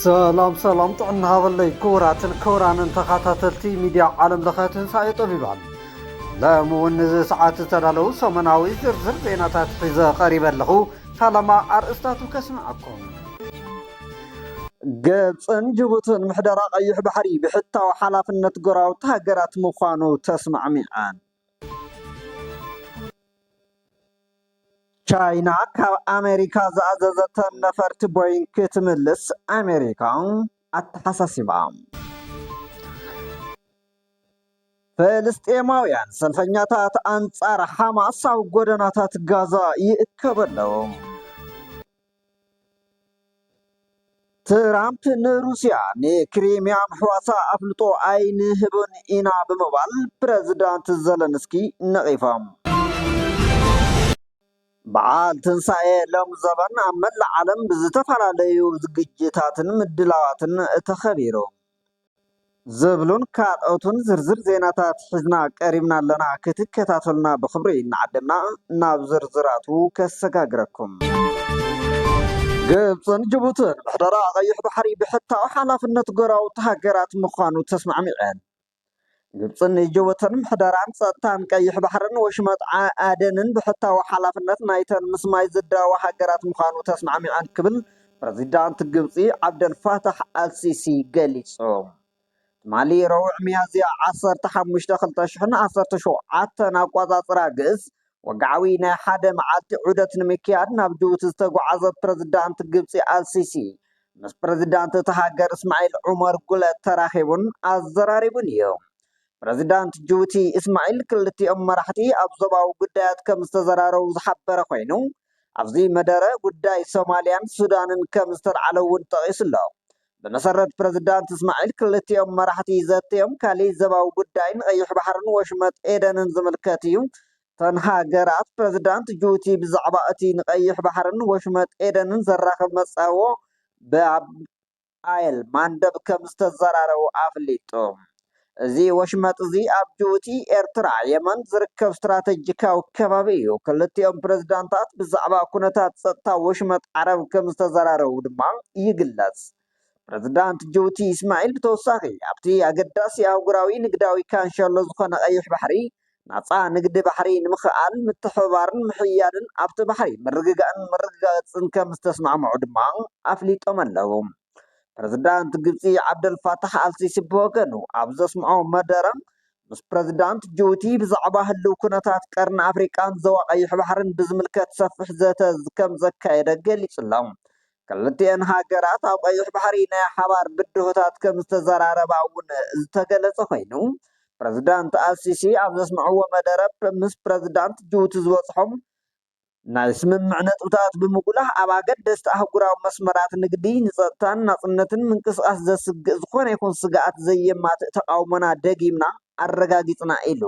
ሰላም ሰላም ጥዕና ሃበለይ ክቡራትን ክቡራንን ተኸታተልቲ ሚድያ ዓለም ለኸ ትንሳኤ ጠቢባን ሎሚ እውን ንዚ ሰዓት ዝተዳለዉ ሰሙናዊ ዝርዝር ዜናታት ሒዘ ቀሪበ ኣለኹ ፈለማ ኣርእስታቱ ከስምዓኩም ግብፅን ጅቡትን ምሕደራ ቀይሕ ባሕሪ ብሕታዊ ሓላፍነት ጎረባብቲ ሃገራት ምዃኑ ተስማዕሚዐን ቻይና ካብ ኣመሪካ ዝኣዘዘተን ነፈርቲ ቦይንግ ክትምልስ ኣመሪካ ኣተሓሳሲባ። ፍልስጤማውያን ሰልፈኛታት ኣንጻር ሓማስ ኣብ ጎደናታት ጋዛ ይእከቡ ኣለዉ። ትራምፕ ንሩስያ ንክሪሚያ ምሕዋሳ ኣፍልጦ ኣይንህብን ኢና ብምባል ፕረዚዳንት ዘለንስኪ ነቒፎም። በዓል ትንሳኤ ሎም ዘበን ኣብ መላእ ዓለም ብዝተፈላለዩ ዝግጅታትን ምድላዋትን ተኸቢሩ። ዝብሉን ካልኦትን ዝርዝር ዜናታት ሒዝና ቀሪብና ኣለና ክትከታተሉና ብክብሪ እናዓደምና ናብ ዝርዝራቱ ከሰጋግረኩም። ግብፅን ጅቡትን ምሕደራ ቀይሕ ባሕሪ ብሕታዊ ሓላፍነት ጎረባብቲ ሃገራት ምዃኑ ተስማዕሚዐን። ግብፂ ንጅቡትን ምሕደራን ፀጥታን ቀይሕ ባሕርን ወሽመጥ ዓደንን ብሕታዊ ሓላፍነት ናይተን ምስ ማይ ዝዳወባ ሃገራት ምዃኑ ተስማዕሚዐን ክብል ፕረዚዳንት ግብፂ ዓብደል ፋታሕ ኣልሲሲ ገሊፁ። ትማሊ ረቡዕ ሚያዝያ ዓሰርተ ሓሙሽተ ክልተ ሽሕን ዓሰርተ ሸውዓተን ኣቋፃፅራ ግእዝ ወግዓዊ ናይ ሓደ መዓልቲ ዑደት ንምክያድ ናብ ጅቡቲ ዝተጓዓዘ ፕረዚዳንት ግብጺ ኣልሲሲ ምስ ፕረዚዳንት እቲ ሃገር እስማዒል ዑመር ጉለ ተራኺቡን ኣዘራሪቡን እዩ። ፕረዚዳንት ጅቡቲ እስማዒል ክልቲኦም መራሕቲ ኣብ ዞባዊ ጉዳያት ከም ዝተዘራረቡ ዝሓበረ ኮይኑ፣ ኣብዚ መደረ ጉዳይ ሶማልያን ሱዳንን ከም ዝተልዓለ እውን ጠቒሱ'ሎ። ብመሰረት ፕረዚዳንት እስማዒል ክልቲኦም መራሕቲ ዘትዮም ካሊእ ዘባዊ ጉዳይ ንቀይሕ ባሕርን ወሽመጥ ኤደንን ዝምልከት እዩ። እተን ሃገራት ፕረዚዳንት ጁቡቲ ብዛዕባ እቲ ንቀይሕ ባሕርን ወሽመጥ ኤደንን ዘራኽብ መጻብቦ ባብ ኣል ማንደብ ከምዝተዘራረቡ ኣፍሊጡ። እዚ ወሽመጥ እዚ ኣብ ጅቡቲ፣ ኤርትራ፣ የመን ዝርከብ ስትራተጂካዊ ከባቢ እዩ። ክልቲኦም ፕረዚዳንታት ብዛዕባ ኩነታት ጸጥታ ወሽመጥ ዓረብ ከም ዝተዘራረቡ ድማ ይግለጽ። ፕረዚዳንት ጅቡቲ ኢስማዒል ብተወሳኺ ኣብቲ ኣገዳሲ ኣህጉራዊ ንግዳዊ ካንሸሎ ዝኾነ ቀይሕ ባሕሪ ናጻ ንግዲ ባሕሪ ንምክእኣል ምትሕብባርን ምሕያድን ኣብቲ ባሕሪ ምርግጋእን ምርግጋጽን ከም ዝተስማዕምዑ ድማ ኣፍሊጦም ኣለዉ። ፕረዚዳንት ግብጺ ዓብደል ፋታሕ ኣልሲሲ ብወገኑ ኣብ ዘስምዖ መደረ፣ ምስ ፕረዚዳንት ጅቡቲ ብዛዕባ ህልው ኩነታት ቀርኒ ኣፍሪቃን ዞባ ቀይሕ ባሕርን ብዝምልከት ሰፊሕ ዘተ ከም ዘካየደ ገሊጹ'ሎ። ክልቲኤን ሃገራት ኣብ ቀይሕ ባሕሪ ናይ ሓባር ብድሆታት ከም ዝተዘራረባ እውን ዝተገለጸ ኮይኑ፣ ፕረዚዳንት ኣልሲሲ ኣብ ዘስምዕዎ መደረ ምስ ፕረዚዳንት ጅቡቲ ዝበጽሖም ናይ ስምምዕ ነጥብታት ብምጉላህ ኣብ ኣገደስቲ ኣህጉራዊ መስመራት ንግዲ፣ ንጸጥታን ናጽነትን ምንቅስቓስ ዘስግእ ዝኾነ ይኹን ስግኣት ዘየማትእ ተቓውሞና ደጊምና ኣረጋጊጽና ኢሉ።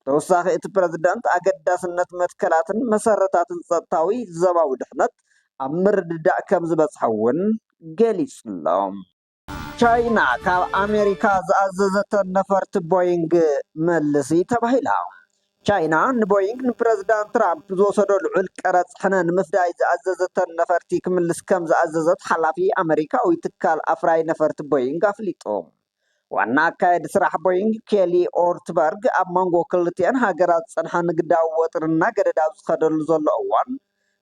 ብተወሳኺ እቲ ፕረዚደንት፣ ኣገዳስነት መትከላትን መሰረታትን ጸጥታዊ ዞባዊ ድሕነት ኣብ ምርድዳእ ከምዝበጽሐ'ውን ገሊጹ'ሎ። ቻይና ካብ ኣሜሪካ ዝኣዘዘተን ነፈርቲ ቦይንግ መልሲ ተባሂላ። ቻይና ንቦይንግ ንፕረዚዳንት ትራምፕ ዝወሰዶ ልዑል ቀረጽ ሕነ ንምፍዳይ ዝኣዘዘተን ነፈርቲ ክምልስ ከም ዝኣዘዘት ሓላፊ ኣመሪካዊ ትካል ኣፍራዪ ነፈርቲ ቦይንግ ኣፍሊጡ። ዋና ኣካየዲ ስራሕ ቦይንግ ኬሊ ኦርትበርግ ኣብ መንጎ ክልቲኤን ሃገራት ዝጸንሐ ንግዳዊ ወጥሪ እናገደደ ኣብ ዝኸደሉ ዘሎ እዋን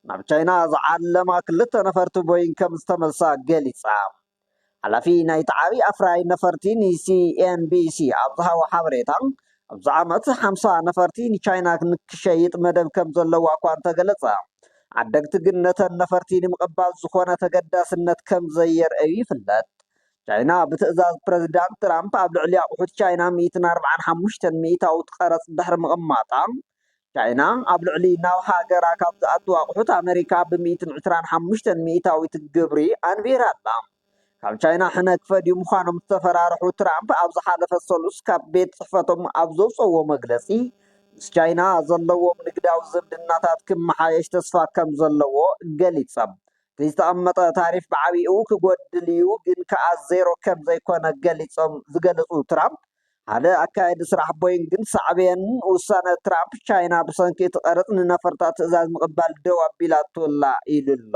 ናብ ቻይና ዝዓለማ ክልተ ነፈርቲ ቦይንግ ከም ዝተመልሳ ገሊጻ። ሓላፊ ናይቲ ዓቢ ኣፍራዪ ነፈርቲ ንሲኤንቢሲ ኣብ ዝሃቦ ሓበሬታ፣ ኣብዚ ዓመት ሓምሳ ነፈርቲ ንቻይና ንክሸይጥ መደብ ከም ዘለዋ እኳ እንተገለጸ፣ ዓደግቲ ግን ነተን ነፈርቲ ንምቕባል ዝኾነ ተገዳስነት ከም ዘየርእዩ ይፍለጥ። ቻይና ብትእዛዝ ፕረዚዳንት ትራምፕ ኣብ ልዕሊ ኣቑሑት ቻይና ሚእትን ኣርብዓን ሓሙሽተን ሚእታዊት ቀረጽ ድሕሪ ምቕማጣ፣ ቻይና ኣብ ልዕሊ ናብ ሃገራ ካብ ዝኣቱ ኣቑሑት ኣመሪካ ብ ሚእትን ዕስራን ሓሙሽተን ሚኢታዊት ግብሪ ኣንቢራ ኣላ። ካብ ቻይና ሕነ ክፈድዩ ምዃኖም ዝተፈራርሑ ትራምፕ ኣብ ዝሓለፈ ሰሉስ ካብ ቤት ጽሕፈቶም ኣብ ዘውጽእዎ መግለጺ ምስ ቻይና ዘለዎም ንግዳዊ ዝምድናታት ክመሓየሽ ተስፋ ከም ዘለዎ ገሊጸም። እቲ ዝተቐመጠ ታሪፍ ብዓቢኡ ክጎድል እዩ ግን ከኣ ዜሮ ከም ዘይኮነ ገሊጾም ዝገለጹ ትራምፕ ሓደ ኣካያዲ ስራሕ ቦይንግ ግን ሳዕቤን ውሳነ ትራምፕ፣ ቻይና ብሰንኪ እቲ ቀረጽ ንነፈርታ ትእዛዝ ምቕባል ደው ኣቢላቶ'ላ ኢሉ'ሎ።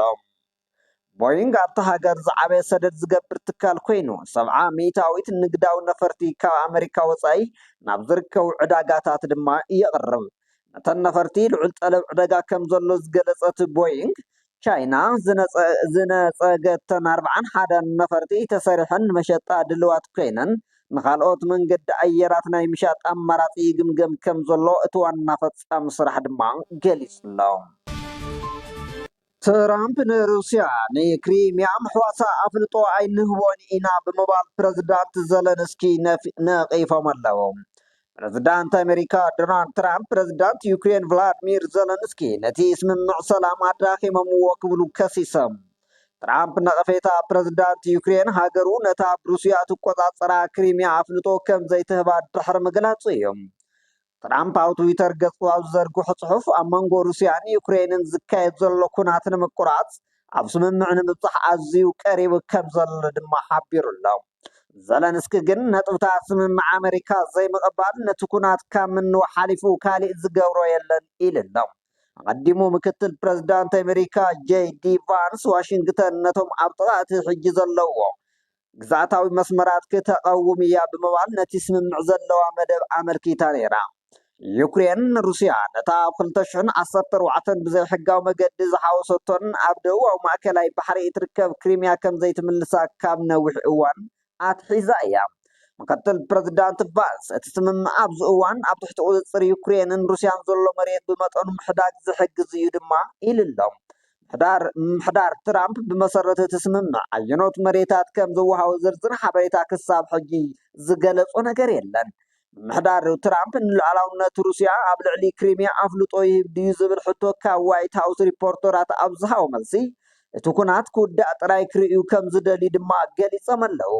ቦይንግ ኣብታ ሃገር ዝዓበየ ሰደድ ዝገብር ትካል ኮይኑ፣ ሰብዓ ሚእታዊት ንግዳዊ ነፈርቲ ካብ ኣመሪካ ወጻኢ ናብ ዝርከቡ ዕዳጋታት ድማ የቕርብ። ነተን ነፈርቲ ልዑል ጠለብ ዕደጋ ከምዘሎ ዝገለጸት ቦይንግ፣ ቻይና ዝነፀገተን ኣርብዓን ሓደን ነፈርቲ ተሰሪሐን መሸጣ ድልዋት ኮይነን ንካልኦት መንገዲ ኣየራት ናይ ምሻጥ ኣማራፂ ይግምገም ከምዘሎ እቲ ዋና ፈፃሚ ስራሕ ድማ ገሊፁ'ሎ። ትራምፕ ንሩስያ ንክሪሚያ ምሕዋሳ ኣፍልጦ ኣይንህቦን ኢና ብምባል ፕረዚዳንት ዘለንስኪ ነቒፎም'ለው። ፕረዚዳንት ኣመሪካ ዶናልድ ትራምፕ ፕረዚዳንት ዩክሬን ቭላድሚር ዘለንስኪ ነቲ ስምምዕ ሰላም ኣዳኺሞምዎ ክብሉ ከሲሶም። ትራምፕ ነቐፌታ ፕረዚዳንት ዩክሬን ሃገሩ ነታ ብሩስያ ትቆጻጸራ ክሪምያ ኣፍልጦ ከም ዘይትህባ ድሕሪ ምግላጹ እዩ። ትራምፕ ኣብ ትዊተር ገጹ ኣብ ዝዘርግሖ ጽሑፍ ኣብ መንጎ ሩስያን ዩክሬንን ዝካየድ ዘሎ ኩናት ንምቁራጽ ኣብ ስምምዕ ንምብፃሕ ኣዝዩ ቀሪቡ ከምዘሎ ድማ ሓቢሩ'ሎ። ዘለንስኪ ግን ነጥብታት ስምምዕ ኣመሪካ ዘይምቕባል ነቲ ኵናት ካብ ምንዋሕ ሓሊፉ ካሊእ ዝገብሮ የለን ኢሉ'ሎ። ኣቐዲሙ ምክትል ፕረዚዳንት ኣመሪካ ጀይ ዲ ቫንስ ዋሽንግተን ነቶም ኣብ ጥቓ እቲ ሕጂ ዘለውዎ ግዝኣታዊ መስመራት ክተቐውም እያ ብምባል ነቲ ስምምዕ ዘለዋ መደብ ኣመልኪታ ነይራ። ዩክሬን፣ ሩስያ ነታ ኣብ ክልተ ሽሕን ዓሰርተ ኣርባዕተን ብዘይሕጋዊ መገዲ ዝሓወሰቶን ኣብ ደቡባዊ ማእከላይ ባሕሪ እትርከብ ክሪምያ ከም ዘይትምልሳ ካብ ነዊሕ እዋን ኣትሒዛ እያ። ምክትል ፕረዚዳንት ቫንስ፣ እቲ ስምምዕ ኣብዚ እዋን ኣብ ትሕቲ ቁጽጽር ዩክሬንን ሩስያን ዘሎ መሬት ብመጠኑ ምሕዳግ ዝሕግዝ እዩ ድማ ኢሉ'ሎ። ምምሕዳር ትራምፕ ብመሰረት እቲ ስምምዕ ኣየኖት መሬታት ከም ዝወሃቡ ዝርዝር ሓበሬታ ክሳብ ሕጂ ዝገለጾ ነገር የለን። ምምሕዳር ትራምፕ ንሉዓላውነት ሩስያ ኣብ ልዕሊ ክሪሚያ ኣፍልጦ ይህብ ድዩ ዝብል ሕቶ ካብ ዋይት ሃውስ ሪፖርተራት ኣብ ዝሃቦ መልሲ እቲ ኩናት ክውዳእ ጥራይ ክርእዩ ከም ዝደልዩ ድማ ገሊጾም ኣለዉ።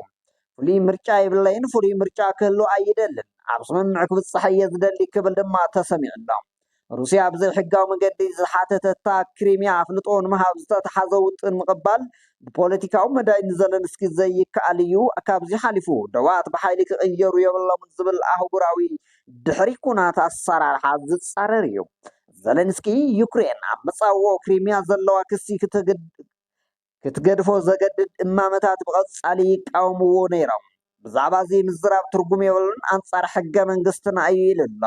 ፍሉይ ምርጫ የብለይን፣ ፍሉይ ምርጫ ክህሉ ኣይደልን፣ ኣብ ስምምዕ ክብጻሕ እየ ዝደሊ ክብል ድማ ተሰሚዑ ኣሎ። ሩስያ ብዘይሕጋዊ መገዲ ዝሓተተታ ክሪሚያ ኣፍልጦ ንምሃብ ዝተተሓዘ ውጥን ምቕባል ብፖለቲካዊ መዳይ ንዘለንስኪ ዘይከኣል እዩ፣ ካብዚ ሓሊፉ ደባት ብሓይሊ ክቕየሩ የብሎምን ዝብል ኣህጉራዊ ድሕሪ ኩናት ኣሰራርሓ ዝጻረር እዩ። ዘለንስኪ ዩክሬን ኣብ መጻብቦ ክሪሚያ ዘለዋ ክሲ ክትገድፎ ዘገድድ እማመታት ብቐጻሊ ይቃወምዎ ነይሮም። ብዛዕባ እዚ ምዝራብ ትርጉም የብሉን፣ ኣንጻር ሕገ መንግስትና እዩ ኢሉ ኣሎ።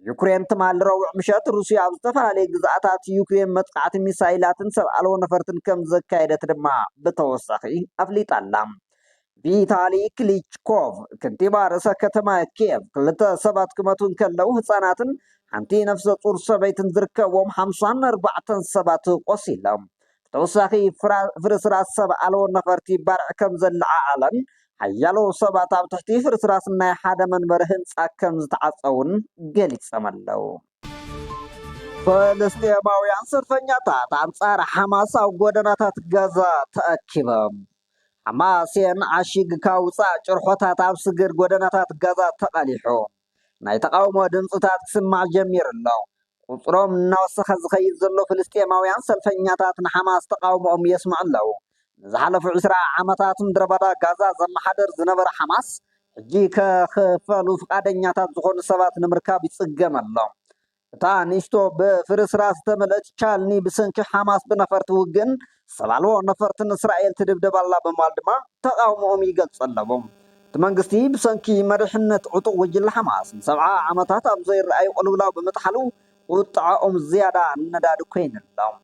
ዩክሬን ትማሊ ረቡዕ ምሸት ሩስያ ኣብ ዝተፈላለዩ ግዝኣታት ዩክሬን መጥቓዕቲ ሚሳይላትን ሰብ ኣልቦ ነፈርትን ከም ዘካየደት ድማ ብተወሳኺ ኣፍሊጣ ኣላ። ቪታሊ ክሊችኮቭ፣ ከንቲባ ርእሰ ከተማ ኪየቭ፣ ክልተ ሰባት ክመቱ እንከለው ህጻናትን ሓንቲ ነፍሰ ጹር ሰበይትን ዝርከብዎም ሓምሳን ኣርባዕተን ሰባት ቆሲሎም ብተወሳኺ ፍርስራስ ሰብ ኣልቦ ነፈርቲ ባርዕ ከም ዘለዓዓለን ሓያሎ ሰባት ኣብ ትሕቲ ፍርስራስ ናይ ሓደ መንበሪ ህንጻ ከም ዝተዓጸውን ገሊጾም ኣለው። ፍልስጤማውያን ሰልፈኛታት ኣንጻር ሓማስ ኣብ ጎደናታት ጋዛ ተኣኪቦም። ሓማሴን ዓሺግካ ውጻእ ጭርሖታት ኣብ ስግር ጎደናታት ጋዛ ተቓሊሑ ናይ ተቓውሞ ድምጽታት ክስማዕ ጀሚሩ ኣሎ። ቁጽሮም እናወሰኸ ዝኸይድ ዘሎ ፍልስጤማውያን ሰልፈኛታት ንሓማስ ተቓውሞኦም የስምዑ ኣለዉ። ንዝሓለፉ ዕስራ ዓመታት ምድረበዳ ጋዛ ዘመሓድር ዝነበረ ሓማስ፣ ሕጂ ከኽፈሉ ፍቓደኛታት ዝኾኑ ሰባት ንምርካብ ይጽገም ኣሎ። እታ ንእሽቶ ብፍርስራስ ዝተመልእት ቻልኒ ብሰንኪ ሓማስ ብነፈርቲ ውግእን ሰብ ኣልቦ ነፈርትን እስራኤል ትድብደብ ኣላ ብምባል ድማ ተቓውሞኦም ይገልጹ ኣለዉ። እቲ መንግስቲ ብሰንኪ መሪሕነት ዕጡቕ ጉጅለ ሓማስ ንሰብዓ ዓመታት ኣብ ዘይርኣይ ቅልውላው ብምጥሓሉ ቁጥዐኦም ዝያዳ ነዳዲ ኮይኑ'ሎ።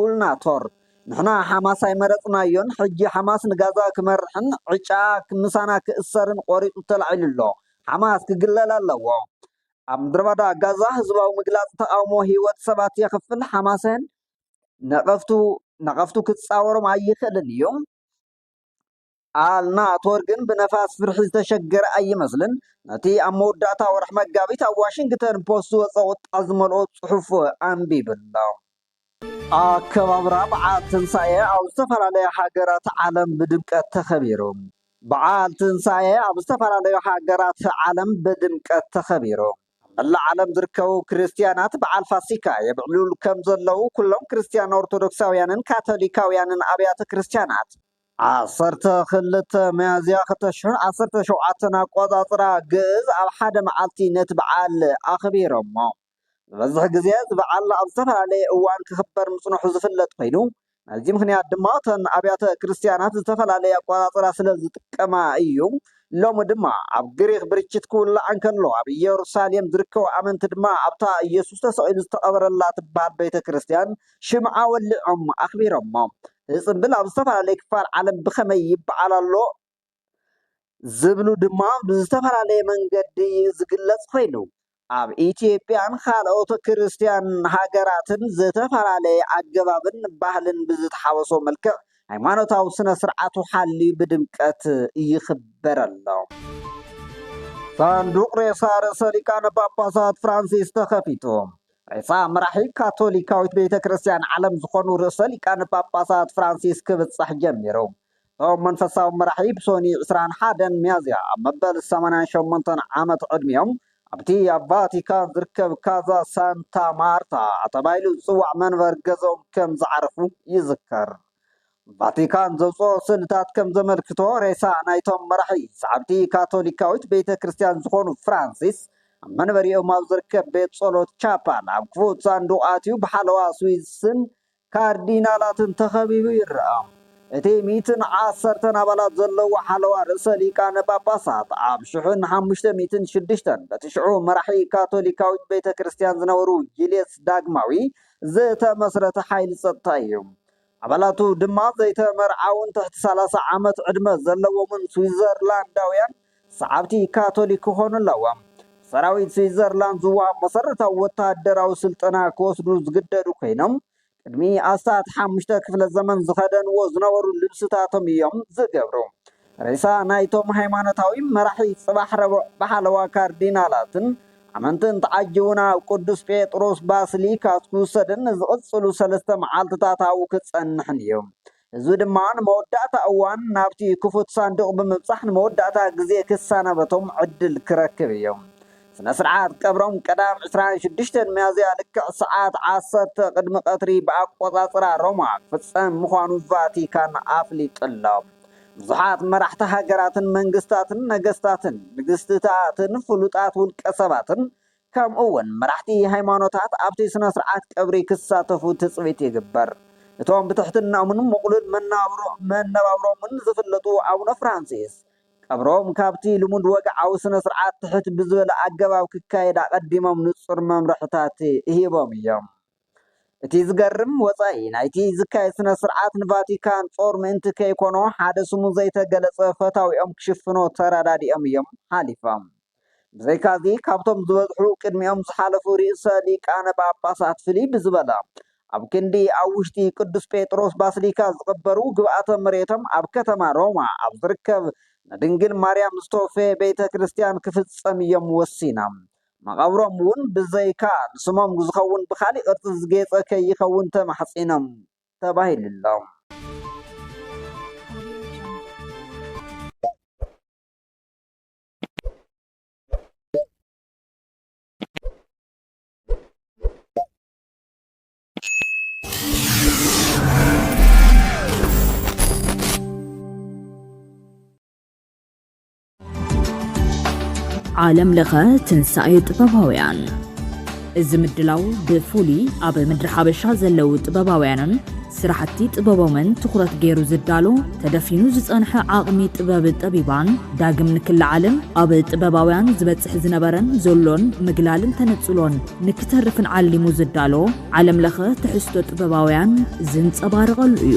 ኡልና ቶር ንሕና ሓማስ ኣይመረጽናዮን ሕጂ ሓማስ ንጋዛ ክመርሕን ዕጫኣ ምሳና ክእሰር'ን ቆሪጹ ተላዒሉ ኣሎ ሓማስ ክግለል ኣለዎ ኣብ ምድረባዳ ጋዛ ህዝባዊ ምግላጽ ተቓውሞ ሂወት ሰባት የኽፍል ሓማሰን ነቐፍቱ ነቐፍቱ ክጻወሮም ኣይኽእልን እዩ። ኣልናቶር ግን ብነፋስ ፍርሒ ዝተሸገረ ኣይመስልን። ነቲ ኣብ መወዳእታ ወርሒ መጋቢት ኣብ ዋሽንግተን ፖስት ዝወጸ ቁጥዐ ዝመልኦ ጽሑፍ ኣንቢቡ ኣሎ። ኣከባብራ በዓል ትንሳኤ ኣብ ዝተፈላለያ ሃገራት ዓለም ብድምቀት ተኸቢሩ። በዓል ትንሳኤ ኣብ ዝተፈላለዩ ሃገራት ዓለም ብድምቀት ተኸቢሩ። ኣብ መላእ ዓለም ዝርከቡ ክርስትያናት በዓል ፋሲካ የብዕሉሉ ከም ዘለዉ ኩሎም ክርስትያን ኦርቶዶክሳውያንን ካቶሊካውያንን ኣብያተ ክርስትያናት ዓሰርተ ክልተ ሚያዝያ ክልተ ሽሕን ዓሰርተ ሸውዓተን ኣቆጻጽራ ግእዝ ኣብ ሓደ መዓልቲ ነቲ በዓል ኣኽቢሮሞ። ዝበዝሕ ግዜ እዚ በዓል ኣብ ዝተፈላለየ እዋን ክኽበር ምጽንሑ ዝፍለጥ ኮይኑ፣ ናይዚ ምኽንያት ድማ እተን ኣብያተ ክርስትያናት ዝተፈላለየ ኣቆጻጽራ ስለ ዝጥቀማ እዩ። ሎሚ ድማ ኣብ ግሪኽ ብርችት ክውላዕ እንከሎ፣ ኣብ እየሩሳሌም ዝርከቡ ኣመንቲ ድማ ኣብታ ኢየሱስ ተሰቒሉ ዝተቐበረላ ትበሃል ቤተ ክርስትያን ሽምዓ ወሊዖም ኣኽቢሮሞ። እዚ ጽምብል ኣብ ዝተፈላለየ ክፋል ዓለም ብኸመይ ይበዓል ኣሎ ዝብሉ ድማ ብዝተፈላለየ መንገዲ እዩ ዝግለጽ ኮይኑ፣ ኣብ ኢትዮጵያን ካልኦት ክርስትያን ሃገራትን ዝተፈላለየ ኣገባብን ባህልን ብዝተሓወሶ መልክዕ ሃይማኖታዊ ስነ ስርዓቱ ሓልዩ ብድምቀት ይኽበር ኣሎ። ሳንዱቕ ሬሳ ርእሰ ሊቃነ ጳጳሳት ፍራንሲስ ተኸፊቱ። ሬሳ መራሒ ካቶሊካዊት ቤተ ክርስቲያን ዓለም ዝኾኑ ርእሰ ሊቃነ ጳጳሳት ፍራንሲስ ክብጻሕ ጀሚሩ። እቶም መንፈሳዊ መራሒ ብሶኒ ዕስራን ሓደን ሚያዝያ ኣብ መበል ሰማንያን ሸሞንተን ዓመት ዕድሚኦም ኣብቲ ኣብ ቫቲካን ዝርከብ ካዛ ሳንታ ማርታ ተባሂሉ ዝጽዋዕ መንበሪ ገዝኦም ከም ዝዓረፉ ይዝከር። ቫቲካን ዘውጽኦ ስእልታት ከም ዘመልክቶ ሬሳ ናይቶም መራሒ ሰዓብቲ ካቶሊካዊት ቤተ ክርስቲያን ዝኾኑ ፍራንሲስ ኣብ መንበሪኦም ኣብ ዝርከብ ቤት ጸሎት ቻፓል ኣብ ክፉት ሳንዱቕ ኣትዩ ብሓለዋ ስዊስን ካርዲናላትን ተኸቢቡ ይረኣ። እቲ ሚእትን ዓሰርተን ኣባላት ዘለዎ ሓለዋ ርእሰ ሊቃነ ጳጳሳት ኣብ ሽሕን ሓሙሽተ ሚእትን ሽዱሽተን በቲ ሽዑ መራሒ ካቶሊካዊት ቤተ ክርስቲያን ዝነበሩ ጂልየስ ዳግማዊ ዝተመስረተ ሓይሊ ጸጥታ እዩ። ኣባላቱ ድማ ዘይተመርዓዉን ትሕቲ ሰላሳ ዓመት ዕድመ ዘለዎምን ስዊዘርላንዳውያን ሰዓብቲ ካቶሊክ ክኾኑ ኣለዎም። ብሰራዊት ስዊዘርላንድ ዝወሃብ መሰረታዊ ወተሃደራዊ ስልጠና ክወስዱ ዝግደዱ ኮይኖም፣ ቅድሚ ኣስታት ሓሙሽተ ክፍለ ዘመን ዝኸደንዎ ዝነበሩ ልብስታቶም እዮም ዝገብሩ። ሬሳ ናይቶም ሃይማኖታዊ መራሒ ጽባሕ ረቡዕ ብሓለዋ ካርዲናላትን ኣመንትን ተዓጂቡ ናብ ቅዱስ ጴጥሮስ ባስሊካ ክውሰድን ንዝቕጽሉ ሰለስተ መዓልትታት ኣብኡ ክጸንሕን እዩ። ህዝቢ ድማ ንመወዳእታ እዋን ናብቲ ክፉት ሳንዱቕ ብምብጻሕ ንመወዳእታ ግዜ ክሰናበቶም ዕድል ክረክብ እዩ። ስነ-ስርዓት ቀብሮም ቀዳም ዕስራን ሽዱሽተን ሚያዝያ ልክዕ ሰዓት ዓሰርተ ቅድሚ ቀትሪ ብኣቆጻጽራ ሮማ ክፍጸም ምዃኑ ቫቲካን ኣፍሊጡ'ሎ። ብዙሓት መራሕቲ ሃገራትን መንግስታትን፣ ነገስታትን ንግስትታትን ፍሉጣት ውልቀሰባትን ከምኡ'ውን መራሕቲ ሃይማኖታት ኣብቲ ስነ-ስርዓት ቀብሪ ክሳተፉ ትጽቢት ይግበር። እቶም ብትሕትናኦምን ምቕሉል መነባብሮኦምን ዝፍለጡ ኣቡነ ፍራንሲስ፣ ቀብሮም ካብቲ ልሙድ ወግዓዊ ስነ-ስርዓት ትሕት ብዝበለ ኣገባብ ክካየድ ኣቐዲሞም ንጹር መምርሕታት ሂቦም እዮም። እቲ ዝገርም፣ ወጻኢ ናይቲ ዝካየድ ስነ-ስርዓት ንቫቲካን ጾር ምእንቲ ከይኮኖ ሓደ ስሙ ዘይተገለጸ ፈታዊኦም ክሽፍኖ ተረዳዲኦም እዮም ሓሊፎም። ብዘይካዚ ካብቶም ዝበዝሑ ቅድሚኦም ዝሓለፉ ርእሰ ሊቃነ ጳጳሳት ፍልይ ብዝበለ ኣብ ክንዲ ኣብ ውሽጢ ቅዱስ ጴጥሮስ ባስሊካ ዝቕበሩ ግብኣተ መሬቶም ኣብ ከተማ ሮማ ኣብ ዝርከብ ንድንግል ማርያም ዝተወፈየ ቤተ ክርስቲያን ክፍጸም እዮም ወሲኖም። መቐብሮም እውን ብዘይካ ንስሞም ዝኸውን ብኻሊእ ቅርጺ ዝጌጸ ከይኸውን ተማሕጺኖም ተባሂሉሎም። ዓለም ለኸ ትንሣኤ ጥበባውያን እዚ ምድላው ብፍሉይ ኣብ ምድሪ ሓበሻ ዘለዉ ጥበባውያንን ስራሕቲ ጥበቦምን ትኹረት ገይሩ ዝዳሎ ተደፊኑ ዝፀንሐ ዓቕሚ ጥበብ ጠቢባን ዳግም ንክለዓልን ኣብ ጥበባውያን ዝበፅሕ ዝነበረን ዘሎን ምግላልን ተነፅሎን ንክተርፍን ዓሊሙ ዝዳሎ ዓለም ለኸ ትሕዝቶ ጥበባውያን ዝንፀባረቐሉ እዩ።